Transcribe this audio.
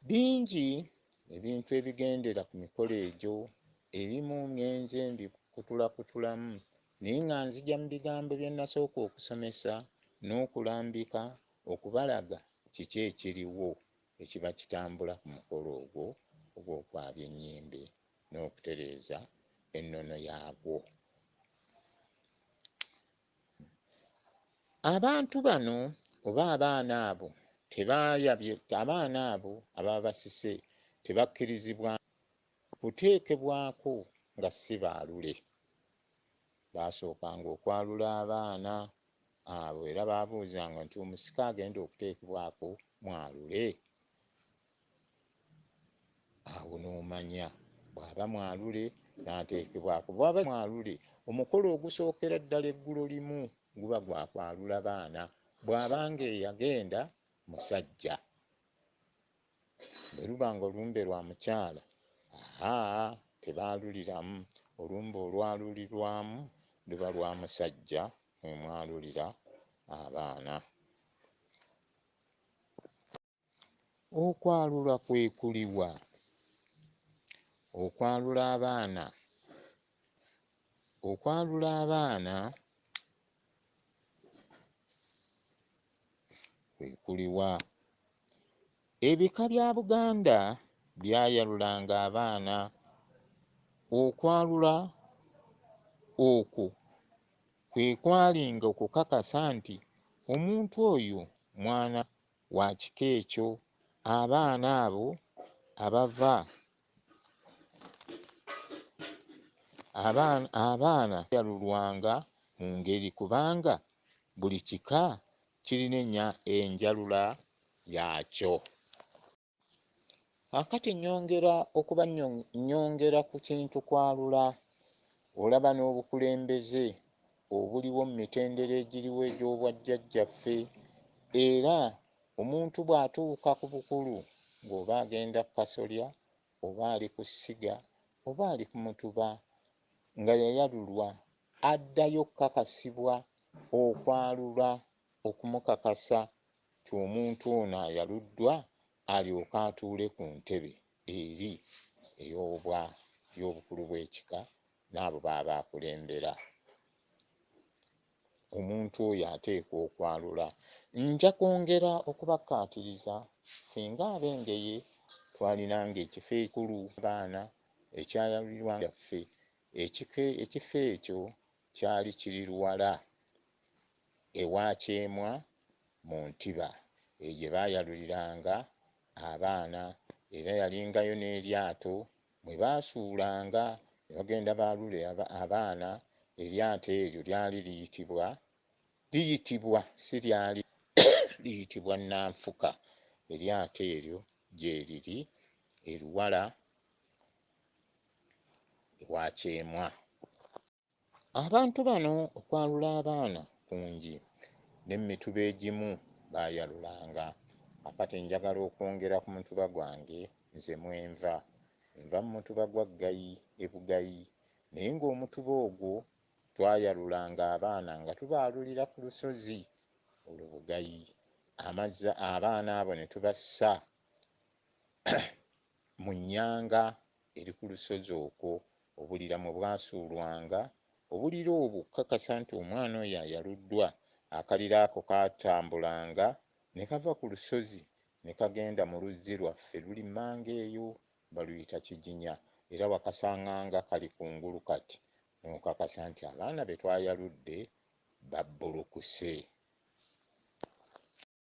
Bingi ebintu ebigendera ku mikolo egyo, ebimu ngenze mbikutulakutulamu naye nga nzija mu bigambo bye nasooka okusomesa n'okulambika okubalaga kiki ekiriwo ekiba kitambula ku mukolo ogwo ogw'okwabya ennyimbe n'okutereeza ennono yaabwo. Abantu bano oba abaana abo tebayabye abaana abo ababa basise tebakkirizibwa kuteekebwako nga si baalule. Baasookanga okwalula abaana abo era baabuuzanga nti omusika agenda okuteekebwako mwalule? Awo n'omanya bw'aba mwalule n'ateekebwako. Bw'aba si mwalule, omukolo ogusookera ddala eggulo limu guba gwa kwalula baana, bw'aba ng'eyagenda musajja. Bwe luba ng'olumbe lwa mukyala, haa, tebaaluliramu, olumbe olwalulirwamu luba lwa musajja mwe mwalulira abaana. Okwalula kwekuliwa? Okwalula abaana okwalula abaana kwekuliwa? Ebika bya Buganda byayalulanga abaana. Okwalula okwo kwe kwalinga okukakasa nti omuntu oyo mwana wa kika ekyo. Abaana abo abava abaana abaana yalulwanga mu ngeri kubanga buli kika kirina enjalula yaakyo. Kaakati nnyongera okuba nnyongera ku kintu kwalula, olaba, n'obukulembeze obuliwo mu mitendera egiriwo egy'obwajjajjaffe, era omuntu bw'atuuka ku bukulu, ng'oba agenda ku kasolya, oba ali ku ssiga, oba ali ku mutuba, nga yayalulwa, addayo okukakasibwa, okwalula, okumukakasa. nti omuntu ono ayaluddwa alyoke atuule ku ntebe eri ey'obwa ey'obukulu bw'ekika n'abo b'aba akulembera. Omuntu oyo ateekwa okwalula. Nja kwongera okubakkaatiriza singa ab'Engeye twalinanga ekifo ekikulu abaana ekyayalulirwanga ffe. Ekifo ekifo ekyo kyali kiri luwala ewa Kyemwa mu Ntiba, eyo gye baayaluliranga abaana era yalingayo n'eryato mwe baasuulanga ne bagenda baalule abaana, eryato eryo lyali liyitibwa liyitibwa si lyali liyitibwa Nnanfuka, eryato eryo gyeriri e Luwala ewa Kyemwa. Abantu bano okwalula abaana kungi ne mu mituba egimu baayalulanga. A Kati njagala okwongera ku mutuba gwange nze mwe nva. Nva mu mutuba gwa Ggayi e Bugayi naye ng'omutuba ogwo twayalulanga abaana nga tubaalulira ku lusozi olwo Bugayi amazzi abaana abo ne tubassa mu nnyanga eri ku lusozi okwo, obulira mwe bwasuulwanga. Obulira obwo okukakasa nti omwana oyo ayaluddwa, akalira ako kaatambulanga ne kava ku lusozi ne kagenda mu luzzi lwaffe luli mmanga eyo, baluyita Kiginya, era wakasanganga kali ku ngulu kati, n'okakasa nti abaana be twayaludde babbulukuse.